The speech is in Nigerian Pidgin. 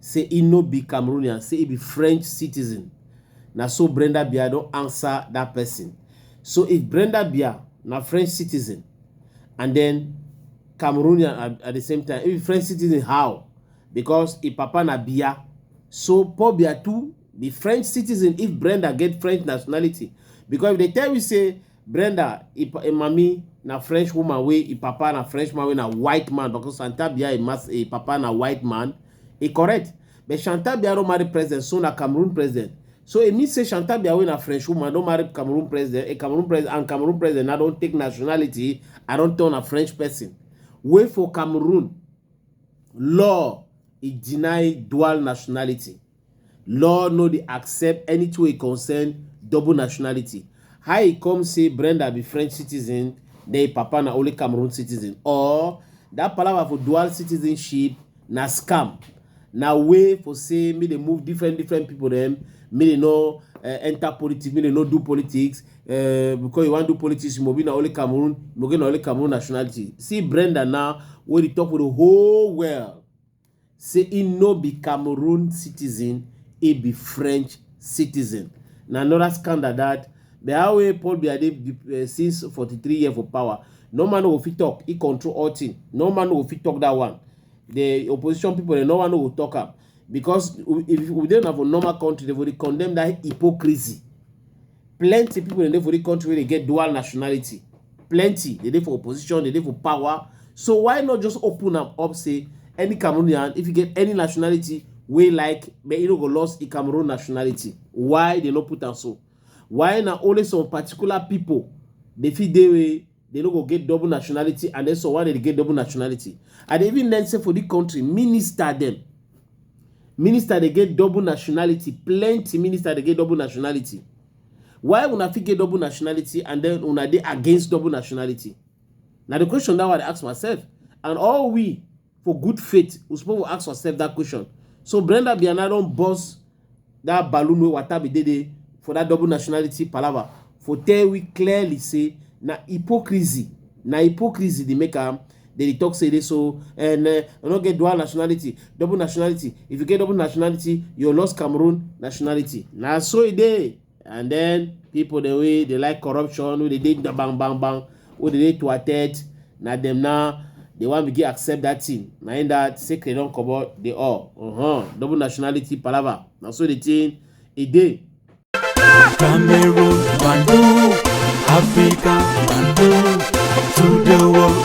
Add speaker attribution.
Speaker 1: say e no be cameroonian say e be french citizen na so brenda bia don answer dat person so if brenda bia na french citizen and then cameroonian at, at the same time if e french citizen how because e papa na bia so paul bia too be french citizen if brenda get french nationality because if they tell you say Brenda, e, e mami na French woman wey e papa na French man wey na white man because Santa Bia e, mas, e papa na white man. E correct. But Santa Bia don marry president, so na Cameroon president. So e mean say Santa Bia wey na French woman don marry Cameroon president, a Cameroon president and Cameroon president na don take nationality and don turn a French person. Wey for Cameroon law e deny dual nationality. Law no dey accept anything wey concern double nationality. How e come say Brenda be French citizen then im papa na only Cameroon citizen or that palava for dual citizenship na scam, na way for say make dem move different different people dem, make dem no uh, enter politics, make dem no do politics, uh, because you wan do politics you must be na only Cameroon, you must get na only Cameroon nationality. See Brenda now wey dey talk with the whole world. say e no be cameroon citizen e be french citizen na anoda scandal dat but how wey paul biya dey eh, since 43 year for power no man no go fit talk he control all thing no man no go fit talk that one the opposition people dem no man no go talk am because if we dey na for normal country dem for dey condemn that hypocrisy plenty people dey dey for the country wey dey get dual nationality plenty dey dey for opposition dey dey for power so why not just open am up say any cameroonian if you get any nationality wey like but you no go lost e cameroon nationality why dey no put am so why na only some particular people dey fit dey They no go get double nationality and then so why they get double nationality? I dey even learn say for this country, minister them. Minister they get double nationality. Plenty minister they get double nationality. Why una fit get double nationality and then una dey against double nationality? Now the question that I ask myself and all we for good faith we suppose for ask ourselves that question so brenda biana don burst that balloon wey wata be dey dey for that double nationality palava for tell we clearly say na hypocrisy na hypocrisy dey make am dey dey talk say dey so and uh, i no get dual nationality double nationality if you get double nationality you lost cameroon nationality na so e dey and then people the way they like corruption wey dey dey bang bang bang wey dey dey thwarted na dem now dey wan begin accept that thing na im that secret don comot dey all uh-huh. double nationality palava na so the thing e dey. Cameroon, Bantu, Africa, Bantu, to the world.